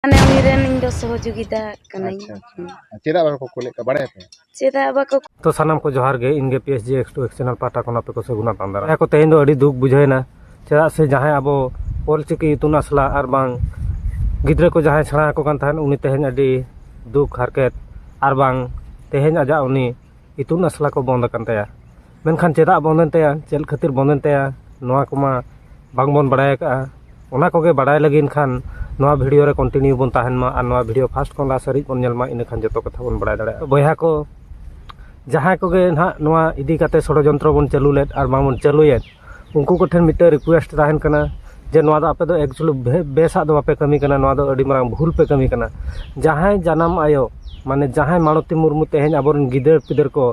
ᱢᱟᱱᱮ ᱩᱱᱤ ᱨᱮᱱ ᱤᱧ ᱫᱚ ᱥᱚᱦᱚᱡᱳᱜᱤᱛᱟ ᱠᱟᱹᱱᱟᱹᱧ ᱟᱪᱪᱷᱟ ᱟᱪᱪᱷᱟ ᱪᱮᱫᱟᱜ ᱵᱟᱠᱚ ᱠᱳᱞᱮᱫ ᱠᱚᱣᱟ ᱵᱟᱲᱟᱭ ᱟᱯᱮ ᱪᱮᱫᱟᱜ ᱵᱟᱠᱚ ᱛᱚ ᱥᱟᱱᱟᱢ ᱠᱚ ᱡᱚᱦᱟᱨ ᱜᱮ ᱤᱧ ᱜᱮ P S G X two X channel ᱯᱟᱦᱴᱟ ᱠᱷᱚᱱ ᱟᱯᱮ ᱠᱚ ᱥᱟᱹᱜᱩᱱᱟ ᱛᱟᱸᱫᱟᱨᱟ ᱡᱟᱦᱟᱸ ᱠᱚ ᱛᱮᱦᱮᱧ ᱫᱚ ᱟᱹᱰᱤ ᱫᱩᱠ ᱵᱩᱡᱷᱟᱹᱣᱮᱱᱟ ᱪᱮᱫᱟᱜ ᱥᱮ ᱡᱟᱦᱟᱸᱭ ᱟᱵᱚ ᱚᱞ ᱪᱤᱠᱤ ᱤᱛᱩᱱ ᱟᱥᱲᱟ ᱟᱨ ᱵᱟᱝ ᱜᱤᱫᱽᱨᱟᱹ ᱠᱚ ᱡᱟᱦᱟᱸᱭ ᱥᱮᱬᱟ ᱟᱠᱚ ᱠᱟᱱ ᱛᱟᱦᱮᱸᱫ ᱩᱱᱤ ᱛᱮᱦᱮᱧ ᱟᱹᱰᱤ ᱫᱩᱠ ᱦᱟᱨᱠᱮᱛ ᱟᱨ ᱵᱟᱝ ᱛᱮᱦᱮᱧ ᱟᱡᱟᱜ ᱩᱱᱤ ᱤᱛᱩᱱ ᱟᱥᱲᱟ ᱠᱚ ᱵᱚᱱᱫᱽ ᱟᱠᱟᱱ ᱛᱟᱭᱟ ᱢᱮᱱᱠᱷᱟᱱ ᱪᱮᱫᱟᱜ ᱵᱚᱱᱫᱚ ᱮᱱ ᱛᱟᱭᱟ ᱪᱮᱫ ᱠᱷᱟᱹᱛᱤᱨ ᱵᱚᱱᱫᱚ ᱮᱱ ᱛᱟᱭᱟ ᱱᱚᱣᱟ ᱠᱚᱢᱟ ᱵᱟᱝ ᱵᱚᱱ ᱵᱟᱲᱟᱭ ᱟᱠᱟᱫᱼᱟ ᱚᱱᱟ ᱠᱚᱜᱮ ᱵᱟᱲᱟᱭ ᱞᱟᱹᱜᱤᱫ ᱠᱷᱟᱱ ᱱᱚᱣᱟ ᱵᱷᱤᱰᱭᱳ ᱨᱮ ᱠᱚᱱᱴᱤᱱᱤᱭᱩ ᱵᱚᱱ ᱛᱟᱦᱮᱱ ᱢᱟ ᱟᱨ ᱱᱚᱣᱟ ᱵᱷᱤᱰᱭᱳ ᱯᱷᱟᱥᱴ ᱠᱷᱚᱱ ᱞᱟᱥᱴ ᱦᱟᱹᱨᱤᱡ ᱵᱚᱱ ᱧᱮᱞ ᱢᱟ ᱤᱱᱟᱹ ᱠᱷᱟᱱ ᱡᱚᱛᱚ ᱠᱟᱛᱷᱟ ᱵᱚᱱ ᱵᱟᱲᱟᱭ ᱫᱟᱲᱮᱭᱟᱜᱼᱟ ᱵᱚᱭᱦᱟ ᱠᱚ ᱡᱟᱦᱟᱸᱭ ᱠᱚᱜᱮ ᱱᱟᱦᱟᱜ ᱱᱚᱣᱟ ᱤᱫᱤ ᱠᱟᱛᱮᱫ ᱥᱚᱲᱚ ᱡᱚᱱᱛᱨᱚ ᱵᱚᱱ ᱪᱟᱹᱞᱩ ᱞᱮᱫ ᱟᱨ ᱵᱟᱝ ᱵᱚᱱ ᱪᱟᱹᱞᱩᱭᱮᱫ ᱩᱱᱠᱩ ᱠᱚᱴᱷᱮᱱ ᱢᱤᱫᱴᱮᱱ ᱨᱤᱠᱩᱭᱮᱥᱴ ᱛᱟᱦᱮᱱ ᱠᱟᱱᱟ ᱡᱮ ᱱᱚᱣᱟ ᱫᱚ ᱟᱯᱮ ᱫᱚ ᱮᱠᱪᱩᱞᱤ ᱵᱮᱥᱟᱜ ᱫᱚ ᱵᱟᱯᱮ ᱠᱟᱹᱢᱤ ᱠᱟᱱᱟ ᱱᱚᱣᱟ ᱫᱚ ᱟᱹᱰᱤ ᱢᱟᱨᱟᱝ ᱵᱷᱩᱞ ᱯᱮ ᱠᱟᱹᱢᱤ ᱠᱟᱱᱟ ᱡᱟᱦᱟᱸᱭ ᱡᱟᱱᱟᱢ ᱟᱭᱳ ᱢᱟᱱᱮ ᱡᱟᱦᱟᱸᱭ ᱢᱟᱞᱚᱛᱤ ᱢᱩᱨᱢᱩ ᱛᱮᱦᱮᱧ ᱟᱵᱚ ᱨᱮᱱ ᱜᱤᱫᱟᱹᱨ ᱯᱤᱫᱟᱹᱨ ᱠᱚ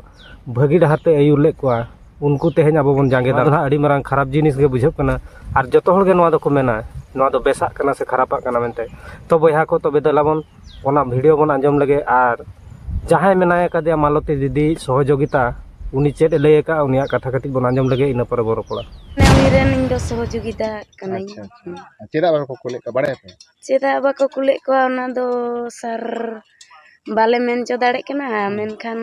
ᱵᱷᱟᱹᱜᱤ ᱰᱟᱦᱟᱨ ᱛᱮ ᱟᱹᱭᱩᱨ ᱞᱮᱫ ᱠᱚᱣᱟ ᱩᱱᱠᱩ ᱛᱮᱦᱮᱧ ᱟᱵᱚ ᱵᱚᱱ ᱡᱟᱸᱜᱮ ᱫᱟᱨᱟᱢ ᱟᱹᱰᱤ ᱢᱟᱨᱟᱝ ᱠᱷᱟᱨᱟᱯ ᱡᱤᱱᱤᱥ ᱜᱮ ᱵᱩᱡᱷᱟᱹᱜ ᱠᱟᱱᱟ ᱟᱨ ᱡᱚᱛᱚ ᱦᱚᱲ ᱜᱮ ᱱᱚᱣᱟ ᱫᱚᱠᱚ ᱢᱮᱱᱟ ᱱᱚᱣᱟ ᱫᱚ ᱵᱮᱥᱟᱜ ᱠᱟᱱᱟ ᱥᱮ ᱠᱷᱟᱨᱟᱯᱟᱜ ᱠᱟᱱᱟ ᱢᱮᱱᱛᱮ ᱛᱚ ᱵᱚᱭᱦᱟ ᱠᱚ ᱛᱚᱵᱮ ᱫᱮᱞᱟ ᱵᱚᱱ ᱚᱱᱟ ᱵᱷᱤᱰᱭᱳ ᱵᱚᱱ ᱟᱸᱡᱚᱢ ᱞᱮᱜᱮ ᱟᱨ ᱡᱟᱦᱟᱸᱭ ᱢᱮᱱᱟᱭ ᱠᱟᱫᱮᱭᱟ ᱢᱟᱞᱚᱛᱤ ᱫᱤᱫᱤ ᱥᱚᱦᱚᱡᱳᱜᱤᱛᱟ ᱩᱱᱤ ᱪᱮᱫ ᱮ ᱞᱟᱹᱭ ᱟᱠᱟᱫᱼᱟ ᱩᱱᱤᱭᱟᱜ ᱠᱟᱛᱷᱟ ᱠᱟᱹᱴᱤᱡ ᱵᱚᱱ ᱟᱸᱡᱚᱢ ᱞᱮᱜᱮ ᱤᱱᱟᱹ ᱯᱚᱨᱮ ᱵᱚᱱ ᱨᱚᱯᱚᱲᱟ ᱩᱱᱤ ᱨᱮᱱ ᱤᱧ ᱫᱚ ᱥᱚᱦᱚᱡᱳᱜᱤᱛᱟ ᱠᱟᱹᱱᱟᱹᱧ ᱪᱮᱫᱟᱜ ᱵᱟᱠᱚ ᱠᱳᱞᱮᱫ ᱠᱚᱣᱟ ᱵᱟᱲᱟᱭᱟᱯᱮ ᱪᱮᱫᱟᱜ ᱵᱟᱠᱚ ᱠᱩᱞᱮᱫ ᱠᱚᱣᱟ ᱚᱱᱟ ᱫᱚ ᱥᱟᱨ ᱵᱟᱞᱮ ᱢᱮᱱ ᱦᱚᱪᱚ ᱫᱟᱲᱮᱭᱟᱜ ᱠᱟᱱᱟ ᱢᱮᱱᱠᱷᱟᱱ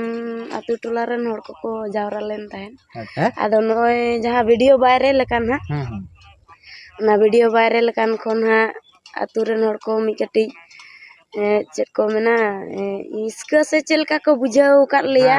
ᱟᱹᱛᱩ ᱴᱚᱞᱟ ᱨᱮᱱ ᱦᱚᱲ ᱠᱚᱠᱚ ᱡᱟᱣᱨᱟ ᱞᱮᱱ ᱛᱟᱦᱮᱸᱫ ᱟᱫᱚ ᱱᱚᱜᱼᱚᱭ ᱡᱟᱦᱟᱸ ᱵᱷᱤᱰᱤᱭᱳ ᱵᱟᱭᱨᱟᱞ ᱟᱠᱟᱱ ᱦᱟᱸᱜ ᱚᱱᱟ ᱵᱷᱤᱰᱤᱭᱳ ᱵᱟᱭᱨᱟᱞ ᱟᱠᱟᱱ ᱠᱷᱚᱱ ᱦᱟᱸᱜ ᱟᱹᱛᱩ ᱨᱮᱱ ᱦᱚᱲ ᱠᱚ ᱢᱤᱫ ᱠᱟᱹᱴᱤᱡ ᱪᱮᱫ ᱠᱚ ᱢᱮᱱᱟ ᱦᱤᱥᱠᱟᱹ ᱥᱮ ᱪᱮᱫ ᱞᱮᱠᱟ ᱠᱚ ᱵᱩᱡᱷᱟᱹᱣ ᱟᱠᱟᱫ ᱞᱮᱭᱟ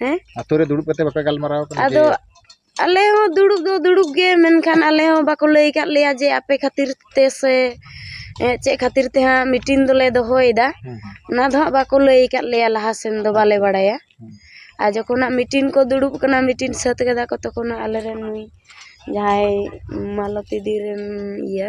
ᱦᱮᱸ ᱟᱛᱳ ᱨᱮ ᱫᱩᱲᱩᱵ ᱠᱟᱛᱮ ᱵᱟᱯᱮ ᱜᱟᱞᱢᱟᱨᱟᱣ ᱠᱟᱱᱟ ᱟᱫᱚ ᱟᱞᱮ ᱦᱚᱸ ᱫᱩᱲᱩᱵ ᱫᱚ ᱫᱩᱲᱩᱵ ᱜᱮ ᱢᱮᱱᱠᱷᱟᱱ ᱟᱞᱮ ᱦᱚᱸ ᱵᱟᱠᱚ ᱞᱟᱹᱭ ᱠᱟᱫ ᱞᱮᱭᱟ ᱡᱮ ᱟᱯᱮ ᱠᱷᱟᱹᱛᱤᱨ ᱛᱮ ᱥᱮ ᱪᱮᱫ ᱠᱷᱟᱹᱛᱤᱨ ᱛᱮ ᱦᱟᱸᱜ ᱢᱤᱴᱤᱝ ᱫᱚᱞᱮ ᱫᱚᱦᱚᱭᱮᱫᱟ ᱚᱱᱟ ᱫᱚ ᱦᱟᱸᱜ ᱵᱟᱠᱚ ᱞᱟᱹᱭ ᱠᱟᱫ ᱞᱮᱭᱟ ᱞᱟᱦᱟ ᱥᱮᱱ ᱫᱚ ᱵᱟᱞᱮ ᱵᱟᱲᱟᱭᱟ ᱟᱨ ᱡᱚᱠᱷᱚᱱ ᱦᱟᱸᱜ ᱢᱤᱴᱤᱝ ᱠᱚ ᱫᱩᱲᱩᱵ ᱠᱟᱱᱟ ᱢᱤᱴᱤᱝ ᱥᱟᱹᱛ ᱠᱮᱫᱟ ᱠᱚ ᱛᱚᱠᱷᱚᱱ ᱦᱟᱸᱜ ᱟᱞᱮ ᱨᱮᱱ ᱱᱩᱭ ᱡᱟᱦᱟᱸᱭ ᱢᱟᱞᱚᱛᱤ ᱫᱤ ᱨᱮᱱ ᱤᱭᱟᱹ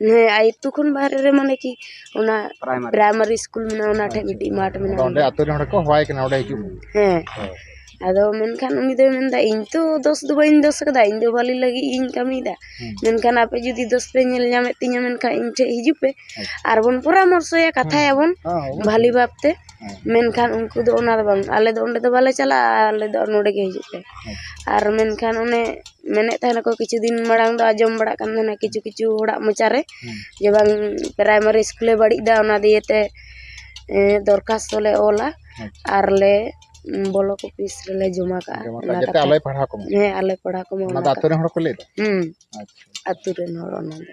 ᱦᱮᱸ ᱟᱹᱛᱩ ᱠᱷᱚᱱ ᱵᱟᱦᱨᱮ ᱨᱮ ᱢᱟᱱᱮ ᱠᱤ ᱚᱱᱟ ᱯᱨᱟᱭᱢᱟᱨᱤ ᱥᱠᱩᱞ ᱢᱮᱱᱟᱜᱼᱟ ᱚᱱᱟ ᱴᱷᱮᱡ ᱢᱤᱫᱴᱤᱡ ᱢᱟᱴᱷ ᱢᱮᱱᱟᱜᱼᱟ ᱚᱸᱰᱮ ᱟᱹᱛᱩ ᱨᱮᱱ ᱦᱚᱲ ᱠᱚ ᱦᱚᱦᱚᱣᱟᱭ ᱠᱟᱱᱟ ᱚᱸᱰᱮ ᱦᱤᱡᱩᱜ ᱦᱮᱸ ᱟᱫᱚ ᱢᱮᱱᱠᱷᱟᱱ ᱩᱱᱤ ᱫᱚᱭ ᱢᱮᱱᱫᱟ ᱤᱧ ᱛᱚ ᱫᱳᱥ ᱫᱚ ᱵᱟᱹᱧ ᱫᱳᱥ ᱠᱟᱫᱟ ᱤᱧ ᱫᱚ ᱵᱷᱟᱹᱞᱤ ᱞᱟᱹᱜᱤᱫ ᱤᱧ ᱠᱟᱹᱢᱤᱭᱮᱫᱟ ᱢᱮᱱᱠᱷᱟᱱ ᱟᱯᱮ ᱡᱩᱫᱤ ᱫᱳᱥ ᱯᱮ ᱧᱮᱞ ᱧᱟᱢᱮᱫ ᱛᱤᱧᱟ ᱢᱮᱱᱠᱷᱟᱱ ᱤᱧ ᱴᱷᱮᱡ ᱦᱤᱡᱩᱜ ᱯᱮ ᱟᱨᱵᱚᱱ ᱯᱚᱨᱟᱢᱚᱨᱥᱚᱭᱟ ᱠᱟᱛᱷᱟᱭᱟᱵᱚᱱ ᱵᱷᱟᱹᱞᱤ ᱵᱷᱟᱵᱽᱛᱮ ᱢᱮᱱᱠᱷᱟᱱ ᱩᱱᱠᱩ ᱫᱚ ᱚᱱᱟ ᱫᱚ ᱵᱟᱝ ᱟᱞᱮ ᱫᱚ ᱚᱸᱰᱮ ᱫᱚ ᱵᱟᱞᱮ ᱪᱟᱞᱟᱜᱼᱟ ᱟᱞᱮ ᱫᱚ ᱱᱚᱰᱮ ᱜᱮ ᱦᱤᱡᱩᱜ ᱯᱮ ᱟᱨ ᱢᱮᱱᱠᱷᱟᱱ ᱚᱱᱮ ᱢᱮᱱᱮᱫ ᱛᱟᱦᱮᱱᱟᱠᱚ ᱠᱤᱪᱷᱩ ᱫᱤᱱ ᱢᱟᱲᱟᱝ ᱫᱚ ᱟᱸᱡᱚᱢ ᱵᱟᱲᱟᱜ ᱠᱟᱱ ᱛᱟᱦᱮᱱᱟ ᱠᱤᱪᱷᱩ ᱠᱤᱪᱷᱩ ᱦᱚᱲᱟᱜ ᱢᱚᱪᱟ ᱨᱮ ᱡᱮ ᱵᱟᱝ ᱯᱨᱟᱭᱢᱟᱨᱤ ᱤᱥᱠᱩᱞᱮ ᱵᱟᱹᱲᱤᱡ ᱮᱫᱟ ᱚᱱᱟ ᱫᱤᱭᱮ ᱛᱮ ᱫᱚᱨᱠᱷᱟᱥᱛᱚ ᱞᱮ ᱚᱞᱟ ᱟᱨ ᱞᱮ ᱵᱞᱚᱠ ᱚᱯᱷᱤᱥ ᱨᱮᱞᱮ ᱡᱚᱢᱟ ᱠᱟᱜᱼᱟ ᱚᱱᱟ ᱠᱟᱛᱷᱟ ᱦᱮᱸ ᱟᱞᱮ ᱯᱟᱲᱦᱟᱣ ᱠᱚᱢᱟ ᱚᱱᱟ ᱫᱚ ᱟᱹᱛᱩ ᱨᱮᱱ ᱦᱚᱲ ᱠᱚ ᱞᱟᱹᱭᱮᱫᱟ ᱦᱮᱸ ᱟᱹᱛᱩ ᱨᱮᱱ ᱦᱚᱲ ᱚᱱᱟ ᱫᱚ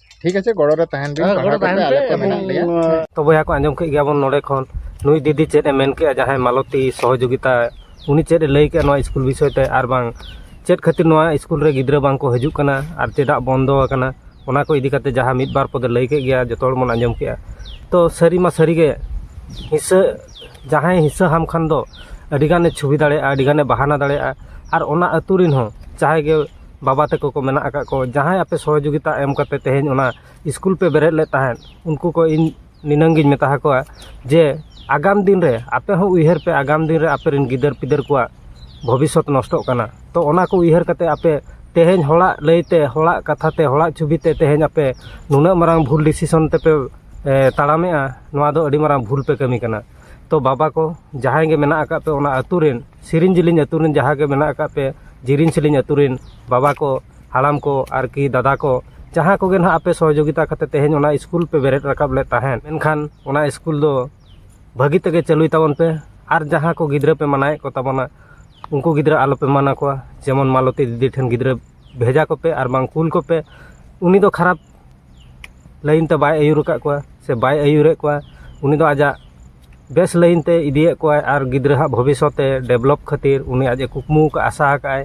ᱴᱷᱤᱠ ᱟᱪᱷᱮ ᱜᱚᱲᱚ ᱨᱮ ᱛᱟᱦᱮᱱ ᱵᱤᱱ ᱯᱟᱲᱦᱟᱣ ᱠᱟᱛᱮ ᱟᱞᱮ ᱠᱚ ᱢᱮᱱᱟᱜ ᱞᱮᱭᱟ ᱛᱚ ᱵᱚᱭᱦᱟ ᱠᱚ ᱟᱸᱡᱚᱢ ᱠᱮᱫ ᱜᱮᱭᱟᱵᱚᱱ ᱱᱚᱰᱮ ᱠᱷᱚᱱ ᱱᱩᱭ ᱫᱤᱫᱤ ᱪᱮᱫ ᱮ ᱢᱮᱱ ᱠᱮᱫᱼᱟ ᱡᱟᱦᱟᱸᱭ ᱢᱟᱞᱚᱛᱤ ᱥᱚᱦᱚᱡᱳᱜᱤᱛᱟ ᱩᱱᱤ ᱪᱮᱫ ᱮ ᱞᱟᱹᱭ ᱠᱮᱫᱼᱟ ᱱᱚᱣᱟ ᱥᱠᱩᱞ ᱵᱤᱥᱚᱭ ᱛᱮ ᱟᱨ ᱵᱟᱝ ᱪᱮᱫ ᱠᱷᱟᱹᱛᱤᱨ ᱱᱚᱣᱟ ᱥᱠᱩᱞ ᱨᱮ ᱜᱤᱫᱽᱨᱟᱹ ᱵᱟᱝ ᱠᱚ ᱦᱤᱡᱩᱜ ᱠᱟᱱᱟ ᱟᱨ ᱪᱮᱫᱟᱜ ᱵᱚᱱᱫᱚ ᱟᱠᱟᱱᱟ ᱚᱱᱟ ᱠᱚ ᱤᱫᱤ ᱠᱟᱛᱮ ᱡᱟᱦᱟᱸ ᱢᱤᱫ ᱵᱟᱨ ᱯᱚᱫᱮ ᱞᱟᱹᱭ ᱠᱮᱫ ᱜᱮᱭᱟ ᱡᱚᱛᱚ ᱦᱚᱲ ᱵᱚᱱ ᱟᱸᱡᱚᱢ ᱠᱮᱫᱼᱟ ᱛᱚ ᱥᱟᱹᱨᱤ ᱢᱟ ᱥᱟᱹᱨᱤ ᱜᱮ ᱦᱤᱥᱟᱹ ᱡᱟᱦᱟᱸᱭ ᱦᱤᱥᱟᱹ ᱦᱟᱢ ᱠᱷᱟᱱ ᱫᱚ ᱟᱹᱰᱤ ᱜᱟᱱᱮ ᱪᱷᱚᱵᱤ ᱫᱟᱲᱮᱭᱟᱜᱼᱟ ᱟᱹᱰᱤ ᱜᱟᱱᱮ ᱵᱟᱦᱟᱱᱟ ᱫᱟᱲᱮᱭᱟᱜᱼᱟ ᱟᱨ ᱚᱱᱟ ᱟᱹᱛᱩ ᱨᱮᱱ ᱦᱚᱸ ᱡᱟᱦᱟᱸᱭ ᱜᱮ ᱵᱟᱵᱟ ᱛᱟᱠᱚ ᱠᱚ ᱢᱮᱱᱟᱜ ᱟᱠᱟᱫ ᱠᱚ ᱡᱟᱦᱟᱸᱭ ᱟᱯᱮ ᱥᱚᱦᱚᱡᱳᱜᱤᱛᱟ ᱮᱢ ᱠᱟᱛᱮᱫ ᱛᱮᱦᱤᱧ ᱚᱱᱟ ᱤᱥᱠᱩᱞ ᱯᱮ ᱵᱮᱨᱮᱫ ᱞᱮᱫ ᱛᱟᱦᱮᱸᱫ ᱩᱱᱠᱩ ᱠᱚ ᱤᱧ ᱱᱤᱱᱟᱹᱝ ᱜᱤᱧ ᱢᱮᱛᱟ ᱟᱠᱚᱣᱟ ᱡᱮ ᱟᱜᱟᱢ ᱫᱤᱱ ᱨᱮ ᱟᱯᱮ ᱦᱚᱸ ᱩᱭᱦᱟᱹᱨ ᱯᱮ ᱟᱜᱟᱢ ᱫᱤᱱ ᱨᱮ ᱟᱯᱮ ᱨᱮᱱ ᱜᱤᱫᱟᱹᱨ ᱯᱤᱫᱟᱹᱨ ᱠᱚᱣᱟᱜ ᱵᱷᱚᱵᱤᱥᱥᱚᱛ ᱱᱚᱥᱴᱚᱜ ᱠᱟᱱᱟ ᱛᱚ ᱚᱱᱟ ᱠᱚ ᱩᱭᱦᱟᱹᱨ ᱠᱟᱛᱮᱫ ᱟᱯᱮ ᱛᱮᱦᱤᱧ ᱦᱚᱲᱟᱜ ᱞᱟᱹᱭᱛᱮ ᱦᱚᱲᱟᱜ ᱠᱟᱛᱷᱟ ᱛᱮ ᱦᱚᱲᱟᱜ ᱪᱷᱚᱵᱤ ᱛᱮ ᱛᱮᱦᱤᱧ ᱟᱯᱮ ᱱᱩᱱᱟᱹᱜ ᱢᱟᱨᱟᱝ ᱵᱷᱩᱞ ᱰᱤᱥᱤᱥᱮᱱ ᱛᱮᱯᱮ ᱛᱟᱲᱟᱢᱮᱫᱼᱟ ᱱᱚᱣᱟ ᱫᱚ ᱟᱹᱰᱤ ᱢᱟᱨᱟᱝ ᱵᱷᱩᱞ ᱯᱮ ᱠᱟᱹᱢᱤ ᱠᱟᱱᱟ ᱛᱚ ᱵᱟᱵᱟ ᱠᱚ ᱡᱟᱦᱟᱸᱭ ᱜᱮ ᱢᱮᱱᱟᱜ ᱟᱠᱟᱫ ᱯᱮ ᱚᱱᱟ ᱟᱹᱛᱩ ᱨᱮᱱ ᱥᱮᱨᱮᱧ ᱡᱮᱞᱮᱧ ᱟᱹᱛᱩ ᱨᱮᱱ ᱡᱟᱦᱟᱸ ᱜᱮ ᱢᱮᱱᱟᱜ ᱟᱠᱟᱫ ᱯᱮ ᱡᱮᱞᱮᱧ ᱥᱮᱞᱮᱧ ᱟᱹᱛᱩ ᱨᱮᱱ ᱵᱟᱵᱟ ᱠᱚ ᱦᱟᱲᱟᱢ ᱠᱚ ᱟᱨᱠᱤ ᱫᱟᱫᱟ ᱠᱚ ᱡᱟᱦᱟᱸ ᱠᱚᱜᱮ ᱱᱟᱦᱟᱜ ᱟᱯᱮ ᱥᱚᱦᱚᱡᱳᱜᱤᱛᱟ ᱠᱟᱛᱮᱫ ᱛᱮᱦᱮᱧ ᱚᱱᱟ ᱥᱠᱩᱞ ᱯᱮ ᱵᱮᱨᱮᱫ ᱨᱟᱠᱟᱵ ᱞᱮᱫ ᱛᱟᱦᱮᱸᱫ ᱢᱮᱱᱠᱷᱟᱱ ᱚᱱᱟ ᱥᱠᱩᱞ ᱫᱚ ᱵᱷᱟᱹᱜᱤ ᱛᱮᱜᱮ ᱪᱟᱹᱞᱩᱭ ᱛᱟᱵᱚᱱ ᱯᱮ ᱟᱨ ᱡᱟᱦᱟᱸ ᱠᱚ ᱜᱤᱫᱽᱨᱟᱹ ᱯᱮ ᱢᱟᱱᱟᱣᱮᱫ ᱠᱚ ᱛᱟᱵᱚᱱᱟ ᱩᱱᱠᱩ ᱜᱤᱫᱽᱨᱟᱹ ᱟᱞᱚ ᱯᱮ ᱢᱟᱱᱟ ᱠᱚᱣᱟ ᱡᱮᱢᱚᱱ ᱢᱟᱞᱚᱛᱤ ᱫᱤᱫᱤ ᱴᱷᱮᱱ ᱜᱤᱫᱽᱨᱟᱹ ᱵᱷᱮᱡᱟ ᱠᱚᱯᱮ ᱟᱨ ᱵᱟᱝ ᱠᱩᱞ ᱠᱚᱯᱮ ᱩᱱᱤ ᱫᱚ ᱠᱷᱟᱨᱟᱯ ᱞᱟᱭᱤᱱ ᱛᱮ ᱵᱟᱭ ᱟᱹᱭᱩᱨ ᱟᱠᱟᱫ ᱠᱚᱣᱟ ᱥᱮ ᱵᱟᱭ ᱟᱹᱭᱩᱨᱮᱫ ᱠᱚᱣᱟ ᱩᱱᱤ ᱫᱚ ᱟᱡᱟᱜ ᱵᱮᱥ ᱞᱟᱭᱤᱱ ᱛᱮ ᱤᱫᱤᱭᱮᱫ ᱠᱚᱣᱟᱭ ᱟᱨ ᱜᱤᱫᱽᱨᱟᱹ ᱦᱟᱜ ᱵᱷᱚᱵᱤᱥᱥᱚᱛ ᱮ ᱰᱮᱵᱷᱞᱚᱯ ᱠᱷᱟᱹᱛᱤᱨ ᱩᱱᱤ ᱟᱡ ᱮ ᱠᱩᱠᱢᱩ ᱟᱠᱟᱫ ᱟᱭ ᱟᱥᱟ ᱟᱠᱟᱫ ᱟᱭ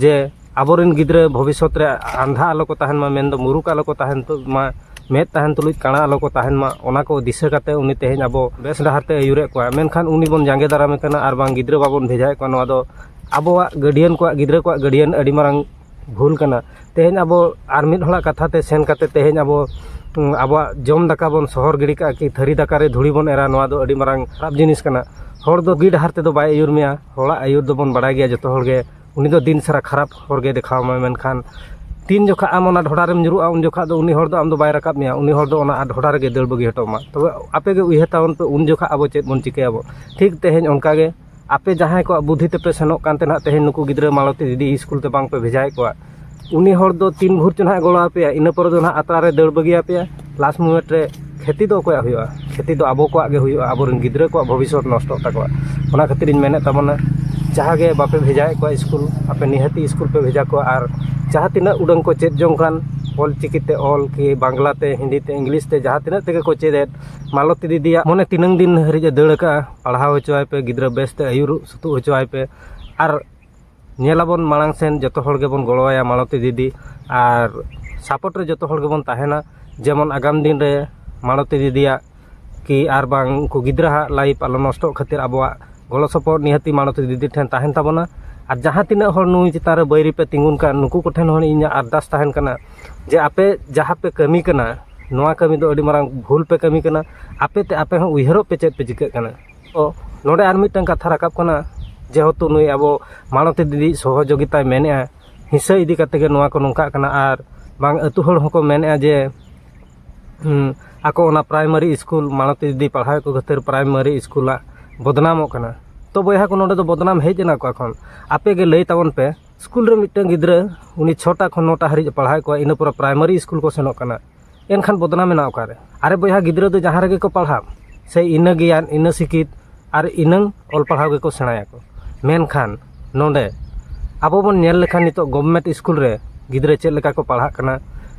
ᱡᱮ ᱟᱵᱚ ᱨᱮᱱ ᱜᱤᱫᱽᱨᱟᱹ ᱵᱷᱚᱵᱤᱥᱥᱚᱛ ᱨᱮ ᱟᱱᱫᱷᱟ ᱟᱞᱚ ᱠᱚ ᱛᱟᱦᱮᱱ ᱢᱟ ᱢᱮᱱᱫᱚ ᱢᱩᱨᱩᱠ ᱟᱞᱚ ᱠᱚ ᱛᱟᱦᱮᱱ ᱢᱟ ᱢᱮᱫ ᱛᱟᱦᱮᱱ ᱛᱩᱞᱩᱡ ᱠᱟᱬᱟ ᱟᱞᱚ ᱠᱚ ᱛᱟᱦᱮᱱ ᱢᱟ ᱚᱱᱟ ᱠᱚ ᱫᱤᱥᱟᱹ ᱠᱟᱛᱮᱫ ᱩᱱᱤ ᱛᱮᱦᱮᱧ ᱟᱵᱚ ᱵᱮᱥ ᱰᱟᱦᱟᱨ ᱛᱮᱭ ᱟᱹᱭᱩᱨᱮᱫ ᱠᱚᱣᱟ ᱢᱮᱱᱠᱷᱟᱱ ᱩᱱᱤ ᱵᱚᱱ ᱡᱟᱸᱜᱮ ᱫᱟᱨᱟᱢᱮ ᱠᱟᱱᱟ ᱟᱨ ᱵᱟᱝ ᱜᱤᱫᱽᱨᱟᱹ ᱵᱟᱵᱚᱱ ᱵᱷᱮᱡᱟᱭᱮᱫ ᱠᱚᱣᱟ ᱱᱚᱣᱟ ᱫᱚ ᱟᱵᱚᱣᱟᱜ ᱜᱟᱹᱰᱤᱭᱟᱱ ᱠᱚᱣᱟᱜ ᱜᱤᱫᱽᱨᱟᱹ ᱠᱚᱣᱟᱜ ᱜᱟᱹᱰᱤᱭᱟᱱ ᱟᱹᱰᱤ ᱢᱟᱨᱟᱝ ᱵᱷᱩᱞ ᱠᱟᱱᱟ ᱛᱮᱦᱮᱧ ᱟᱵᱚ ᱟᱨ ᱢᱤᱫ ᱦᱚᱲᱟᱜ ᱠᱟᱛᱷᱟ ᱛᱮ ᱥᱮᱱ ᱠᱟᱛᱮ ᱛᱮᱦᱮᱧ ᱟᱵᱚ ᱟᱵᱚᱣᱟᱜ ᱡᱚᱢ ᱫᱟᱠᱟ ᱵᱚᱱ ᱥᱚᱦᱚᱨ ᱜᱤᱰᱤ ᱠᱟᱜᱼᱟ ᱠᱤ ᱛᱷᱟᱹᱨᱤ ᱫᱟᱠᱟ ᱨᱮ ᱫᱷᱩᱲᱤ ᱵᱚᱱ ᱮᱨᱟ ᱱᱚᱣᱟ ᱫᱚ ᱟᱹᱰᱤ ᱢᱟᱨᱟᱝ ᱠᱷᱟᱨᱟᱯ ᱡᱤᱱᱤᱥ ᱠᱟᱱᱟ ᱦᱚᱲ ᱫᱚ ᱵᱩᱜᱤ ᱰᱟᱦᱟᱨ ᱛᱮᱫᱚ ᱵᱟᱭ ᱟᱹᱭᱩᱨ ᱢᱮᱭᱟ ᱦᱚᱲᱟᱜ ᱟᱹᱭᱩᱨ ᱫᱚᱵᱚᱱ ᱵᱟᱲᱟᱭ ᱜᱮᱭᱟ ᱡᱚᱛᱚ ᱦᱚᱲ ᱜᱮ ᱩᱱᱤ ᱫᱚ ᱫᱤᱱ ᱥᱟᱨᱟ ᱠᱷᱟᱨᱟᱯ ᱦᱚᱨ ᱜᱮ ᱫᱮᱠᱷᱟᱣ ᱟᱢᱟᱭ ᱢᱮᱱᱠᱷᱟᱱ ᱛᱤᱱ ᱡᱚᱠᱷᱚᱡ ᱟᱢ ᱚᱱᱟ ᱰᱷᱚᱰᱟ ᱨᱮᱢ ᱧᱩᱨᱩᱜᱼᱟ ᱩᱱ ᱡᱚᱠᱷᱚᱡ ᱫᱚ ᱩᱱᱤ ᱦᱚᱲ ᱫᱚ ᱟᱢ ᱫᱚ ᱵᱟᱭ ᱨᱟᱠᱟᱵ ᱢᱮᱭᱟ ᱩᱱᱤ ᱦᱚᱲ ᱫᱚ ᱚᱱᱟ ᱰᱷᱚᱰᱟ ᱨᱮᱜᱮ ᱫᱟᱹᱲ ᱵᱟᱹᱜᱤ ᱦᱚᱴᱚ ᱟᱢᱟ ᱛᱚᱵᱮ ᱟᱯᱮ ᱜᱮ ᱩᱭᱦᱟᱹᱨ ᱛᱟᱵᱚᱱ ᱯᱮ ᱩᱱ ᱡᱚᱠᱷᱚᱡ ᱟᱵᱚ ᱪᱮᱫ ᱵᱚᱱ ᱪᱤᱠᱟᱹᱭᱟᱵᱚ ᱴᱷᱤᱠ ᱛᱮᱦᱮᱧ ᱚᱱᱠᱟ ᱜᱮ ᱟᱯᱮ ᱡᱟᱦᱟᱸᱭ ᱠᱚᱣᱟᱜ ᱵᱩᱫᱷᱤ ᱛᱮᱯᱮ ᱥᱮᱱᱚᱜ ᱠᱟᱱ ᱛᱟᱦᱮᱱᱟ ᱛᱮᱦᱮᱧ ᱱᱩᱠᱩ ᱜᱤᱫᱽᱨᱟᱹ ᱢᱟᱞᱚᱛᱤ ᱫᱤᱫᱤ ᱤᱥᱠᱩᱞ ᱛᱮ ᱵᱟᱝᱯᱮ ᱵᱷᱮᱡᱟᱭᱮᱫ ᱠᱚᱣᱟ ᱩᱱᱤ ᱦᱚᱲ ᱫᱚ ᱛᱤᱱ ᱵᱷᱳᱨ ᱪᱚ ᱦᱟᱸᱜ ᱮ ᱜᱚᱲᱚ ᱟᱯᱮᱭᱟ ᱤᱱᱟᱹ ᱯᱚᱨᱮ ᱫᱚ ᱦᱟᱸᱜ ᱟᱛᱨᱟ ᱨᱮ ᱫᱟᱹᱲ ᱵᱟᱹᱜᱤ ᱟᱯᱮᱭᱟᱭ ᱞᱟᱥ ᱢᱩᱢᱮᱱᱴ ᱨᱮ ᱠᱷᱚᱛᱤ ᱫᱚ ᱚᱠᱚᱭᱟᱜ ᱦᱩᱭᱩᱜᱼᱟ ᱠᱷᱚᱛᱤ ᱫᱚ ᱟᱵᱚ ᱠᱚᱣᱟᱜ ᱜᱮ ᱦᱩᱭᱩᱜᱼᱟ ᱟᱵᱚ ᱨᱮᱱ ᱜᱤᱫᱽᱨᱟᱹ ᱠᱚᱣᱟᱜ ᱵᱷᱚᱵᱤᱥᱥᱚᱛ ᱱᱚᱥᱴᱚᱜ ᱛᱟᱠᱚᱣᱟ ᱚᱱᱟ ᱠᱷᱟᱹᱛᱤᱨ ᱤᱧ ᱢᱮᱱᱮᱫ ᱛᱟᱵᱚᱱᱟ ᱡᱟᱦᱟᱸ ᱜᱮ ᱵᱟᱯᱮ ᱵᱷᱮᱡᱟᱭᱮᱫ ᱠᱚᱣᱟ ᱤᱥᱠᱩᱞ ᱟᱯᱮ ᱱᱤᱦᱟᱹᱛᱤ ᱤᱥᱠᱩᱞ ᱯᱮ ᱵᱷᱮᱡᱟ ᱠᱚᱣᱟ ᱟᱨ ᱡᱟᱦᱟᱸ ᱛᱤᱱᱟᱹᱜ ᱩᱰᱟᱹᱝ ᱠᱚ ᱪᱮᱫ ᱡᱚᱝ ᱠᱟᱱ ᱚᱞ ᱪᱤᱠᱤ ᱛᱮ ᱚᱞ ᱠᱤ ᱵᱟᱝᱞᱟ ᱛᱮ ᱦᱤᱱᱫᱤ ᱛᱮ ᱤᱝᱞᱤᱥ ᱛᱮ ᱡᱟᱦᱟᱸ ᱛᱤᱱᱟᱹᱜ ᱛᱮᱜᱮ ᱠᱚ ᱪᱮᱫ ᱮᱫ ᱢᱟᱞᱚᱛᱤ ᱫᱤᱫᱤᱭᱟᱜ ᱢᱚᱱᱮ ᱛᱤᱱᱟᱹᱝ ᱫᱤᱱ ᱦᱟᱹᱨᱤᱡ ᱮ ᱫᱟᱹᱲ ᱠᱟᱜᱼᱟ ᱯᱟᱲᱦᱟᱣ ᱦᱚᱪᱚᱣᱟᱭ ᱯᱮ ᱜᱤᱫᱽᱨᱟᱹ ᱵᱮᱥᱛᱮ ᱟᱹᱭᱩᱨ ᱥᱩᱛᱩᱜ ᱦᱚᱪᱚᱣᱟᱭ ᱯᱮ ᱟᱨ ᱧᱮᱞ ᱟᱵᱚᱱ ᱢᱟᱲᱟᱝ ᱥᱮᱱ ᱡᱚᱛᱚ ᱦᱚᱲ ᱜᱮᱵᱚᱱ ᱜᱚᱲᱚ ᱟᱭᱟ ᱢᱟᱞᱚᱛᱤ ᱫᱤᱫᱤ ᱟᱨ ᱥᱟᱯᱳᱨᱴ ᱨᱮ ᱡᱚᱛᱚ ᱦᱚᱲ ᱜᱮᱵᱚᱱ ᱛᱟᱦᱮᱱᱟ ᱡᱮᱢᱚᱱ ᱟᱜᱟᱢ ᱫᱤᱱ ᱨᱮ ᱢᱟᱞᱚᱛᱤ ᱫᱤᱫᱤᱭᱟᱜ ᱠᱤ ᱟᱨ ᱵᱟᱝ ᱩᱱᱠᱩ ᱜᱤᱫᱽᱨᱟᱹ ᱦᱟᱜ ᱞᱟᱭᱤᱯᱷ ᱟᱞᱚ ᱱᱚᱥᱴᱚᱜ ᱠᱷᱟᱹᱛᱤᱨ ᱟᱵᱚᱣᱟᱜ ᱜᱚᱲᱚ ᱥᱚᱯᱚᱦᱚᱫ ᱱᱤᱦᱟᱹᱛᱤ ᱢᱟᱞᱚᱛᱤ ᱫᱤᱫᱤ ᱴᱷᱮᱱ ᱛᱟᱦᱮᱱ ᱛᱟᱵᱚᱱᱟ ᱟᱨ ᱡᱟᱦᱟᱸ ᱛᱤᱱᱟᱹᱜ ᱦᱚᱲ ᱱᱩᱭ ᱪᱮᱛᱟᱱ ᱨᱮ ᱵᱟᱹᱭᱨᱤ ᱯᱮ ᱛᱤᱸᱜᱩᱱ ᱠᱟᱱ ᱱᱩᱠᱩ ᱠᱚᱴᱷᱮᱱ ᱦᱚᱸ ᱤᱧᱟᱹᱜ ᱟᱨᱫᱟᱥ ᱛᱟᱦᱮᱱ ᱠᱟᱱᱟ ᱡᱮ ᱟᱯᱮ ᱡᱟᱦᱟᱸ ᱯᱮ ᱠᱟᱹᱢᱤ ᱠᱟᱱᱟ ᱱᱚᱣᱟ ᱠᱟᱹᱢᱤ ᱫᱚ ᱟᱹᱰᱤ ᱢᱟᱨᱟᱝ ᱵᱷᱩᱞ ᱯᱮ ᱠᱟᱹᱢᱤ ᱠᱟᱱᱟ ᱟᱯᱮ ᱛᱮ ᱟᱯᱮ ᱦᱚᱸ ᱩᱭᱦᱟᱹᱨᱚᱜ ᱯᱮ ᱪᱮᱫ ᱯᱮ ᱪᱤᱠᱟᱹᱜ ᱠᱟᱱᱟ ᱛᱚ ᱱᱚᱰᱮ ᱟᱨ ᱢᱤᱫᱴᱟᱝ ᱠᱟᱛᱷᱟ ᱨᱟᱠᱟᱵ ᱠᱟᱱᱟ ᱡᱮᱦᱮᱛᱩ ᱱᱩᱭ ᱟᱵᱚ ᱢᱟᱞᱚᱛᱤ ᱫᱤᱫᱤ ᱥᱚᱦᱚᱡᱳᱜᱤᱛᱟᱭ ᱢᱮᱱᱮᱜᱼᱟ ᱦᱤᱥᱟᱹ ᱤᱫᱤ ᱠᱟᱛᱮ ᱜᱮ ᱱᱚᱣᱟ ᱠᱚ ᱱᱚᱝᱠᱟᱜ ᱠᱟᱱᱟ ᱟᱨ ᱵᱟᱝ ᱟᱛᱳ ᱦᱚᱲ ᱦᱚᱸᱠᱚ ᱢᱮᱱᱮᱜᱼᱟ ᱡᱮ ᱟᱠᱚ ᱚᱱᱟ ᱯᱨᱟᱭᱢᱟᱨᱤ ᱤᱥᱠᱩᱞ ᱢᱟᱞᱚᱛᱤ ᱫᱤᱫᱤ ᱯᱟᱲᱦᱟᱣ ᱮᱫ ᱠᱚ ᱠᱷᱟᱹᱛᱤᱨ ᱯᱨᱟᱭᱢᱟᱨᱤ ᱤᱥᱠᱩᱞ ᱟᱜ ᱵᱚᱫᱽᱱᱟᱢᱚᱜ ᱠᱟᱱᱟ ᱛᱚ ᱵᱚᱭᱦᱟ ᱠᱚ ᱱᱚᱰᱮ ᱫᱚ ᱵᱚᱫᱽᱱᱟᱢ ᱦᱮᱡ ᱮᱱᱟ ᱚᱠᱟ ᱠᱷᱚᱱ ᱟᱯᱮ ᱜᱮ ᱞᱟᱹᱭ ᱛᱟᱵᱚᱱ ᱯᱮ ᱥᱠᱩᱞ ᱨᱮ ᱢᱤᱫᱴᱟᱝ ᱜᱤᱫᱽᱨᱟᱹ ᱩᱱᱤ ᱪᱷᱚᱴᱟ ᱠᱷᱚᱱ ᱱᱚᱴᱟ ᱦᱟᱹᱨᱤᱡ ᱮ ᱯᱟᱲᱦᱟᱣᱮᱫ ᱠᱚᱣᱟ ᱤᱱᱟᱹ ᱯᱚᱨᱮ ᱯᱨᱟᱭᱢᱟᱨᱤ ᱥᱠᱩᱞ ᱠᱚ ᱥᱮᱱᱚᱜ ᱠᱟᱱᱟ ᱮᱱᱠᱷᱟᱱ ᱵᱚᱫᱽᱱᱟᱢ ᱢᱮᱱᱟᱜᱼᱟ ᱚᱠᱟᱨᱮ ᱟᱨᱮ ᱵᱚᱭᱦᱟ ᱜᱤᱫᱽᱨᱟᱹ ᱫᱚ ᱡᱟᱦᱟᱸ ᱨᱮᱜᱮ ᱠᱚ ᱯᱟᱲᱦᱟᱜ ᱥᱮ ᱤᱱᱟᱹ ᱜᱮᱭᱟᱱ ᱤᱱᱟᱹ ᱥᱤᱠᱷᱤᱛ ᱟᱨ ᱤᱱᱟᱹ ᱚᱞ ᱯᱟᱲᱦᱟᱣ ᱜᱮᱠᱚ ᱥᱮᱬᱟᱭᱟᱠᱚ ᱢᱮᱱᱠᱷᱟᱱ ᱱᱚᱰᱮ ᱟᱵᱚ ᱵᱚᱱ ᱧᱮᱞ ᱞᱮᱠᱷᱟᱱ ᱱᱤᱛᱚᱜ ᱜᱚᱵᱷᱢᱮᱱᱴ ᱥᱠᱩᱞ ᱨᱮ ᱜᱤᱫᱽᱨᱟᱹ ᱪᱮᱫ ᱞᱮᱠᱟ ᱠᱚ ᱯᱟᱲᱦᱟᱜ ᱠᱟᱱᱟ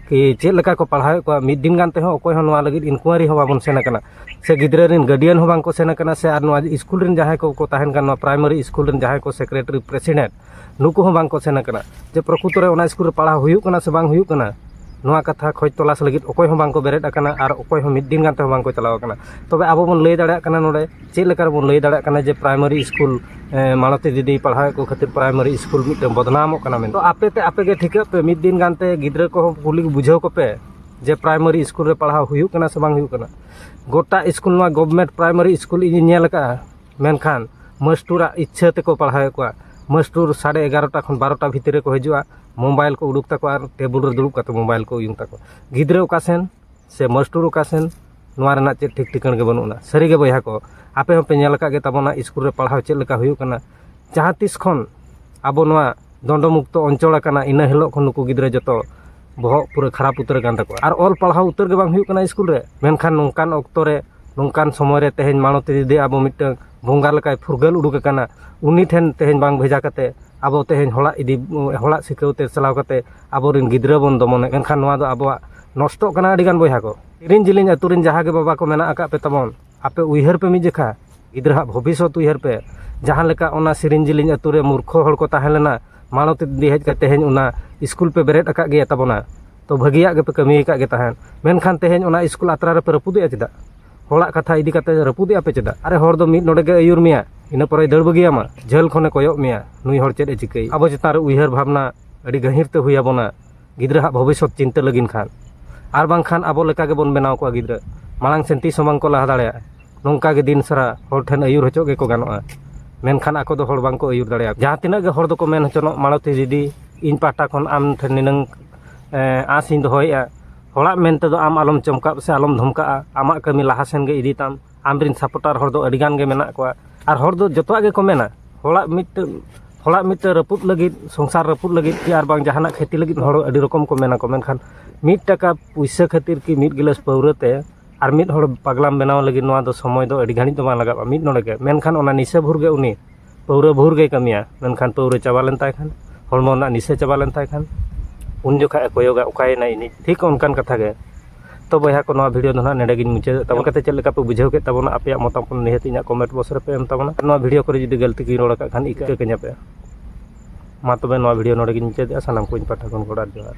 ᱠᱤ ᱪᱮᱫ ᱞᱮᱠᱟ ᱠᱚ ᱯᱟᱲᱦᱟᱣᱮᱫ ᱠᱚᱣᱟ ᱢᱤᱫ ᱫᱤᱱ ᱜᱟᱱ ᱛᱮᱦᱚᱸ ᱚᱠᱚᱭ ᱦᱚᱸ ᱱᱚᱣᱟ ᱞᱟᱹᱜᱤᱫ ᱤᱱᱠᱩᱣᱟᱨᱤ ᱦᱚᱸ ᱵᱟᱵᱚᱱ ᱥᱮᱱ ᱠᱟᱱᱟ ᱥᱮ ᱜᱤᱫᱽᱨᱟᱹ ᱨᱮᱱ ᱜᱟᱨᱰᱤᱭᱟᱱ ᱦᱚᱸ ᱵᱟᱝ ᱠᱚ ᱥᱮᱱ ᱠᱟᱱᱟ ᱥᱮ ᱟᱨ ᱱᱚᱣᱟ ᱥᱠᱩᱞ ᱨᱮᱱ ᱡᱟᱦᱟᱸᱭ ᱠᱚᱠᱚ ᱛᱟᱦᱮᱱ ᱠᱟᱱᱟ ᱱᱚᱣᱟ ᱯᱨᱟᱭᱢᱟᱨᱤ ᱥᱠᱩᱞ ᱨᱮᱱ ᱡᱟᱦᱟᱸᱭ ᱠᱚ ᱥᱮᱠᱨᱮᱴᱟᱨᱤ ᱯᱨᱮᱥᱤᱰᱮᱱᱴ ᱱᱩᱠᱩ ᱦᱚᱸ ᱵᱟᱝ ᱠᱚ ᱥᱮᱱ ᱟᱠᱟᱱᱟ ᱡᱮ ᱯᱨᱚᱠᱩᱛᱚ ᱨᱮ ᱚᱱᱟ ᱤᱥᱠᱩᱞ ᱨᱮ ᱯᱟᱲᱦᱟᱣ ᱦᱩᱭᱩᱜ ᱠᱟᱱᱟ ᱥᱮ ᱵᱟᱝ ᱦᱩᱭᱩᱜ ᱠᱟᱱᱟ ᱱᱚᱣᱟ ᱠᱟᱛᱷᱟ ᱠᱷᱚᱡᱽ ᱛᱚᱞᱟᱥ ᱞᱟᱹᱜᱤᱫ ᱚᱠᱚᱭ ᱦᱚᱸ ᱵᱟᱝ ᱠᱚ ᱵᱮᱨᱮᱫ ᱟᱠᱟᱱᱟ ᱟᱨ ᱚᱠᱚᱭ ᱦᱚᱸ ᱢᱤᱫ ᱫᱤᱱ ᱜᱟᱱ ᱛᱮᱦᱚᱸ ᱵᱟᱝ ᱠᱚ ᱪᱟᱞᱟᱣ ᱟᱠᱟᱱᱟ ᱛᱚᱵᱮ ᱟᱵᱚ ᱵᱚᱱ ᱞᱟᱹᱭ ᱫᱟᱲᱮᱭᱟᱜ ᱠᱟᱱᱟ ᱱᱚᱰᱮ ᱪᱮᱫ ᱞᱮᱠᱟ ᱨᱮᱵᱚᱱ ᱞᱟᱹᱭ ᱫᱟᱲᱮᱭᱟᱜ ᱠᱟᱱᱟ ᱡᱮ ᱯᱨᱟᱭᱢᱟᱨᱤ ᱤᱥᱠᱩᱞ ᱢᱟᱞᱚᱛᱤ ᱫᱤᱫᱤ ᱯᱟᱲᱦᱟᱣᱮᱫ ᱠᱚ ᱠᱷᱟᱹᱛᱤᱨ ᱯᱨᱟᱭᱢᱟᱨᱤ ᱤᱥᱠᱩᱞ ᱢᱤᱫᱴᱟᱹᱝ ᱵᱚᱫᱽᱱᱟᱢᱚᱜ ᱠᱟᱱᱟ ᱢᱮᱱᱛᱮ ᱟᱯᱮ ᱛᱮ ᱟᱯᱮ ᱜᱮ ᱴᱷᱤᱠᱟᱹᱜ ᱯᱮ ᱢᱤᱫ ᱫᱤᱱ ᱜᱟᱱ ᱛᱮ ᱜᱤᱫᱽᱨᱟᱹ ᱠᱚᱦᱚᱸ ᱠᱩᱞᱤ ᱵᱩᱡᱷᱟᱹᱣ ᱠᱚᱯᱮ ᱡᱮ ᱯᱨᱟᱭᱢᱟᱨᱤ ᱤᱥᱠᱩᱞ ᱨᱮ ᱯᱟᱲᱦᱟᱣ ᱦᱩᱭᱩᱜ ᱠᱟᱱᱟ ᱥᱮ ᱵᱟᱝ ᱦᱩᱭᱩᱜ ᱠᱟᱱᱟ ᱜᱚᱴᱟ ᱤᱥᱠᱩᱞ ᱱᱚᱣᱟ ᱜᱚᱵᱷᱢᱮᱱᱴ ᱯᱨᱟᱭᱢᱟᱨᱤ ᱤᱥᱠᱩᱞ ᱤᱧᱤᱧ ᱧᱮᱞ ᱟᱠᱟᱫᱼᱟ ᱢᱮᱱᱠᱷᱟᱱ ᱢᱟᱹᱥᱴᱩᱨᱟᱜ ᱤᱪᱪᱷᱟᱹ ᱛᱮᱠᱚ ᱯᱟᱲᱦᱟᱣᱮᱫ ᱠᱚᱣᱟ ᱢᱟᱹᱥᱴᱩᱨ ᱥᱟᱲᱮ ᱮᱜᱟᱨᱚᱴᱟ ᱠᱷᱚᱱ ᱵᱟᱨᱚᱴᱟ ᱵᱷᱤᱛᱤᱨ ᱨᱮᱠᱚ ᱦᱤᱡᱩᱜᱼᱟ ᱢᱳᱵᱟᱭᱤᱞ ᱠᱚ ᱩᱰᱩᱠ ᱛᱟᱠᱚᱣᱟ ᱟᱨ ᱴᱮᱵᱤᱞ ᱨᱮ ᱫᱩᱲᱩᱵ ᱠᱟᱛᱮᱫ ᱢᱳᱵᱟᱭᱤᱞ ᱠᱚ ᱩᱭᱩᱝ ᱛᱟᱠᱚᱣᱟ ᱜᱤᱫᱽᱨᱟᱹ ᱚᱠᱟ ᱥᱮᱱ ᱥᱮ ᱢᱟᱹᱥᱴᱩᱨ ᱚᱠᱟ ᱥᱮᱱ ᱱᱚᱣᱟ ᱨᱮᱱᱟᱜ ᱪᱮᱫ ᱴᱷᱤᱠ ᱴᱷᱤᱠᱟᱹᱱ ᱜᱮ ᱵᱟᱹᱱᱩᱜ ᱟᱱᱟ ᱥᱟᱹᱨᱤᱜᱮ ᱵᱚᱭᱦᱟ ᱠᱚ ᱟᱯᱮ ᱦᱚᱸᱯᱮ ᱧᱮᱞ ᱟᱠᱟᱫ ᱜᱮ ᱛᱟᱵᱚᱱᱟ ᱤᱥᱠᱩᱞ ᱨᱮ ᱯᱟᱲᱦᱟᱣ ᱪᱮᱫ ᱞᱮᱠᱟ ᱦᱩᱭᱩᱜ ᱠᱟᱱᱟ ᱡᱟᱦᱟᱸ ᱛᱤᱥ ᱠᱷᱚᱱ ᱟᱵᱚ ᱱᱚᱣᱟ ᱫᱚᱱᱰᱚ ᱢᱩᱠᱛᱚ ᱚᱧᱪᱚᱞ ᱟᱠᱟᱱᱟ ᱤᱱᱟᱹ ᱦᱤᱞᱳᱜ ᱠᱷᱚᱱ ᱱᱩᱠᱩ ᱜᱤᱫᱽᱨᱟᱹ ᱡᱚᱛᱚ ᱵᱚᱦᱚᱜ ᱯᱩᱨᱟᱹ ᱠᱷᱟᱨᱟᱯ ᱩᱛᱟᱹᱨ ᱟᱠᱟᱱ ᱛᱟᱠᱚᱣᱟ ᱟᱨ ᱚᱞ ᱯᱟᱲᱦᱟᱣ ᱩᱛᱟᱹᱨ ᱜᱮ ᱵᱟᱝ ᱦᱩᱭᱩᱜ ᱠᱟᱱᱟ ᱤᱥᱠᱩᱞ ᱨᱮ ᱢᱮᱱᱠᱷᱟᱱ ᱱᱚᱝᱠᱟᱱ ᱚᱠᱛᱚ ᱨᱮ ᱱᱚᱝᱠᱟᱱ ᱥᱚᱢᱚᱭ ᱨᱮ ᱛᱮᱦᱮᱧ ᱢᱟᱬᱚᱛᱤ ᱫᱤᱫᱤ ᱟᱵᱚ ᱢᱤᱫᱴᱟᱹᱝ ᱵᱚᱸᱜᱟ ᱞᱮᱠᱟᱭ ᱯᱷᱩᱨᱜᱟᱹᱞ ᱩᱰᱩᱠ ᱟᱠᱟᱱᱟ ᱩᱱᱤ ᱴᱷᱮᱱ ᱛᱮᱦᱮᱧ ᱵᱟᱝ ᱵᱷᱮᱡᱟ ᱠᱟᱛᱮ ᱟᱵᱚ ᱛᱮᱦᱮᱧ ᱦᱚᱲᱟᱜ ᱤᱫᱤ ᱦᱚᱲᱟᱜ ᱥᱤᱠᱷᱟᱹᱣ ᱛᱮ ᱪᱟᱞᱟᱣ ᱠᱟᱛᱮ ᱟᱵᱚ ᱨᱮᱱ ᱜᱤᱫᱽᱨᱟᱹ ᱵᱚᱱ ᱫᱚᱢᱚᱱᱮᱫ ᱢᱮᱱᱠᱷᱟᱱ ᱱᱚᱣᱟ ᱫᱚ ᱟᱵᱚᱣᱟᱜ ᱱᱚᱥᱴᱚᱜ ᱠᱟᱱᱟ ᱟᱹᱰᱤ ᱜᱟᱱ ᱵᱚᱭᱦᱟ ᱠᱚ ᱡᱮᱞᱮᱧ ᱡᱮᱞᱮᱧ ᱟᱛᱳ ᱨᱮᱱ ᱡᱟᱦᱟᱸ ᱜᱮ ᱵᱟᱵᱟ ᱠᱚ ᱢᱮᱱᱟᱜ ᱟᱠᱟᱫ ᱯᱮ ᱛᱟᱵᱚᱱ ᱟᱯᱮ ᱩᱭᱦᱟᱹᱨ ᱯᱮ ᱢᱤᱫ ᱡᱚᱠᱷᱟ ᱜᱤᱫᱽᱨᱟᱹ ᱦᱟᱸᱜ ᱵᱷᱚᱵᱤᱥᱥᱚᱛ ᱩᱭᱦᱟᱹᱨ ᱯᱮ ᱡᱟᱦᱟᱸ ᱞᱮᱠᱟ ᱚᱱᱟ ᱡᱮᱞᱮᱧ ᱡᱮᱞᱮᱧ ᱟᱛᱳ ᱨᱮ ᱢᱩᱨᱠᱷᱚ ᱦᱚᱲ ᱠᱚ ᱛᱟᱦᱮᱸ ᱞᱮᱱᱟ ᱢᱟᱬᱚᱛᱤ ᱫᱤᱫᱤ ᱦᱮᱡ ᱠᱟᱛᱮ ᱛᱮᱦᱮᱧ ᱚᱱᱟ ᱤᱥᱠᱩᱞ ᱯᱮ ᱵᱮᱨᱮᱫ ᱟᱠᱟᱫ ᱜᱮᱭᱟ ᱛᱟᱵᱚᱱᱟ ᱛᱚ ᱵᱷᱟᱹᱜᱤᱭᱟᱜ ᱜᱮᱯᱮ ᱠᱟᱹᱢᱤ ᱟᱠᱟᱫ ᱜᱮ ᱛᱟᱦᱮᱸᱫ ᱢᱮᱱᱠᱷᱟᱱ ᱛᱮᱦᱮᱧ ᱚᱱᱟ ᱤᱥᱠᱩᱞ ᱟᱛᱨᱟ ᱨᱮᱯᱮ ᱨᱟᱹᱯᱩᱫᱮᱜᱼᱟ ᱪᱮᱫᱟᱜ ᱦᱚᱲᱟᱜ ᱠᱟᱛᱷᱟ ᱤᱫᱤ ᱠᱟᱛᱮ ᱨᱟᱹᱯᱩᱫᱮᱜᱼᱟ ᱯᱮ ᱪᱮᱫᱟᱜ ᱟᱨᱮ ᱦᱚᱲ ᱫᱚ ᱢᱤᱫ ᱱᱚᱰᱮ ᱜᱮ ᱟᱹᱭᱩᱨ ᱢᱮᱭᱟᱭ ᱤᱱᱟᱹ ᱯᱚᱨᱮᱭ ᱫᱟᱹᱲ ᱵᱟᱹᱜᱤᱭᱟᱢᱟ ᱡᱷᱟᱹᱞ ᱠᱷᱚᱱᱮ ᱠᱚᱭᱚᱜ ᱢᱮᱭᱟ ᱱᱩᱭ ᱦᱚᱲ ᱪᱮᱫ ᱮ ᱪᱤᱠᱟᱹᱭᱮᱫᱟ ᱟᱵᱚ ᱪᱮᱛᱟᱱ ᱨᱮ ᱩᱭᱦᱟᱹᱨ ᱵᱷᱟᱵᱽᱱᱟ ᱟᱹᱰᱤ ᱜᱟᱹᱦᱤᱨ ᱛᱮ ᱦᱩᱭ ᱟᱵᱚᱱᱟ ᱜᱤᱫᱽᱨᱟᱹ ᱦᱟᱜ ᱵᱷᱚᱵᱤᱥᱥᱚᱛ ᱪᱤᱱᱛᱟᱹ ᱞᱟᱹᱜᱤᱫ ᱠᱷᱟᱱ ᱟᱨ ᱵᱟᱝᱠᱷᱟᱱ ᱟᱵᱚ ᱞᱮᱠᱟ ᱜᱮᱵᱚᱱ ᱵᱮᱱᱟᱣ ᱠᱚᱣᱟ ᱜᱤᱫᱽᱨᱟᱹ ᱢᱟᱲᱟᱝ ᱥᱮᱫ ᱛᱤᱥ ᱦᱚᱸ ᱵᱟᱝ ᱠᱚ ᱞᱟᱦᱟ ᱫᱟᱲᱮᱭᱟᱜᱼᱟ ᱱᱚᱝᱠᱟ ᱜᱮ ᱫᱤᱱ ᱥᱟᱨᱟ ᱦᱚᱲ ᱴᱷᱮᱱ ᱟᱹᱭᱩᱨ ᱦᱚᱪᱚᱜ ᱜᱮᱠᱚ ᱜᱟᱱᱚᱜᱼᱟ ᱢᱮᱱᱠᱷᱟᱱ ᱟᱠᱚ ᱫᱚ ᱦᱚᱲ ᱵᱟᱝ ᱠᱚ ᱟᱹᱭᱩᱨ ᱫᱟᱲᱮᱭᱟᱠᱚᱣᱟ ᱡᱟᱦᱟᱸ ᱛᱤᱱᱟᱹᱜ ᱜᱮ ᱦᱚᱲ ᱫᱚᱠᱚ ᱢᱮᱱ ᱦᱚᱪᱚᱱᱚᱜ ᱢᱟᱞᱚᱛᱤ ᱫᱤᱫᱤ ᱤᱧ ᱯᱟᱦᱴᱟ ᱠᱷᱚᱱ ᱟᱢ ᱴᱷᱮᱱ ᱱᱤᱱᱟᱹᱝ ᱟᱸᱥ ᱤᱧ ᱫᱚᱦᱚᱭᱮᱜᱼᱟ ᱦᱚᱲᱟᱜ ᱢᱮᱱ ᱛᱮᱫᱚ ᱟᱢ ᱟᱞᱚᱢ ᱪᱚᱢᱠᱟᱜ ᱥᱮ ᱟᱞᱚᱢ ᱫᱷᱚᱢᱠᱟᱜᱼᱟ ᱟᱢᱟᱜ ᱠᱟᱹᱢᱤ ᱞᱟᱦᱟ ᱥᱮᱱ ᱜᱮ ᱤᱫᱤ ᱛᱟᱢ ᱟᱢ ᱨᱮᱱ ᱥᱟᱯᱳᱴᱟᱨ ᱦᱚᱲ ᱫᱚ ᱟᱹᱰᱤ ᱜᱟᱱ ᱜᱮ ᱢᱮᱱᱟᱜ ᱠᱚᱣᱟ ᱟᱨ ᱦᱚᱲ ᱫᱚ ᱡᱚᱛᱚᱣᱟᱜ ᱜᱮᱠᱚ ᱢᱮᱱᱟ ᱦᱚᱲᱟᱜ ᱢᱤᱫᱴᱟᱹᱝ ᱦᱚᱲᱟᱜ ᱢᱤᱫᱴᱟᱹᱝ ᱨᱟᱹᱯᱩᱫ ᱞᱟᱹᱜᱤᱫ ᱥᱚᱝᱥᱟᱨ ᱨᱟᱹᱯᱩᱫ ᱞᱟᱹᱜᱤᱫ ᱠᱤ ᱟᱨ ᱵᱟᱝ ᱡᱟᱦᱟᱱᱟᱜ ᱠᱷᱚᱛᱤ ᱞᱟᱹᱜᱤᱫ ᱦᱚᱲ ᱟᱹᱰᱤ ᱨᱚᱠᱚᱢ ᱠᱚ ᱢᱮᱱᱟᱠᱚ ᱢᱮᱱᱠᱷᱟᱱ ᱢᱤᱫ ᱴᱟᱠᱟ ᱯᱩᱭᱥᱟᱹ ᱠᱷᱟᱹᱛᱤᱨ ᱠᱤ ᱢᱤᱫ ᱜᱤᱞᱟᱹᱥ ᱯᱟᱹᱣᱨᱟᱹ ᱛᱮ ᱟᱨ ᱢᱤᱫ ᱦᱚᱲ ᱯᱟᱜᱽᱞᱟᱢ ᱵᱮᱱᱟᱣ ᱞᱟᱹᱜᱤᱫ ᱱᱚᱣᱟ ᱫᱚ ᱥᱚᱢᱚᱭ ᱫᱚ ᱟᱹᱰᱤ ᱜᱷᱟᱹᱲᱤᱡ ᱫᱚ ᱵᱟᱝ ᱞᱟᱜᱟᱜᱼᱟ ᱢᱤᱫ ᱱᱚᱰᱮ ᱜᱮ ᱢᱮᱱᱠᱷᱟᱱ ᱚᱱᱟ ᱱᱤᱥᱟᱹ ᱵᱷᱳᱨ ᱜᱮ ᱩᱱᱤ ᱯᱟᱹᱣᱨᱟᱹ ᱵᱷᱳᱨ ᱜᱮᱭ ᱠᱟᱹᱢᱤᱭᱟ ᱢᱮᱱᱠᱷᱟᱱ ᱯᱟᱹᱣᱨᱟᱹ ᱪᱟᱵᱟ ᱞᱮᱱ ᱛᱟᱭ ᱠᱷᱟᱱ ᱦᱚᱲᱢᱚ ᱨᱮᱱᱟᱜ ᱱᱤᱥᱟᱹ ᱪᱟᱵᱟ ᱞᱮᱱ ᱛᱟᱭ ᱠᱷᱟᱱ ᱩᱱ ᱡᱚᱠᱷᱚᱡ ᱮ ᱠᱚᱭᱚᱜᱟ ᱚᱠᱟᱭᱮᱱᱟᱭ ᱤᱧᱤᱡ ᱴᱷᱤᱠ ᱚᱱᱠᱟᱱ ᱠᱟᱛᱷᱟ ᱜᱮ ᱛᱚ ᱵᱚᱭᱦᱟ ᱠᱚ ᱱᱚᱣᱟ ᱵᱷᱤᱰᱭᱳ ᱫᱚ ᱦᱟᱸᱜ ᱱᱚᱰᱮ ᱜᱤᱧ ᱢᱩᱪᱟᱹᱫᱮᱜ ᱛᱟᱵᱚᱱᱟ ᱪᱤᱠᱟᱛᱮ ᱪᱮᱫ ᱞᱮᱠᱟ ᱯᱮ ᱵᱩᱡᱷᱟᱹᱣ ᱠᱮᱜ ᱛᱟᱵᱚᱱᱟ ᱟᱯᱮᱭᱟᱜ ᱢᱚᱛᱟᱢᱚᱛ ᱱᱤᱦᱟᱹᱛ ᱤᱧᱟᱹᱜ ᱠᱚᱢᱮᱱᱴ ᱵᱚᱠᱥ ᱨᱮᱯᱮ ᱮᱢ ᱛᱟᱵᱚᱱᱟ ᱟᱨ ᱱᱚᱣᱟ ᱵᱷᱤᱰᱭᱳ ᱠᱚᱨᱮ ᱡᱩᱫᱤ ᱜᱟᱹᱞᱛᱤ ᱜᱤᱧ ᱨᱚᱲ ᱠᱟᱜ ᱠᱷᱟᱱ ᱤᱠᱟᱹ ᱠᱟᱹᱧᱟ ᱯᱮ ᱢᱟ ᱛᱚᱵᱮ ᱱᱚᱣᱟ ᱵᱷᱤᱰᱭᱳ ᱱᱚᱰᱮ ᱜᱤᱧ ᱢᱩᱪᱟᱹᱫᱮᱜᱼᱟ ᱥᱟᱱᱟᱢ ᱠᱚ ᱤᱧ ᱯᱟᱦᱴᱟ ᱠᱷᱚᱱ ᱜᱚᱰ ᱟᱨ ᱡᱚᱦᱟᱨ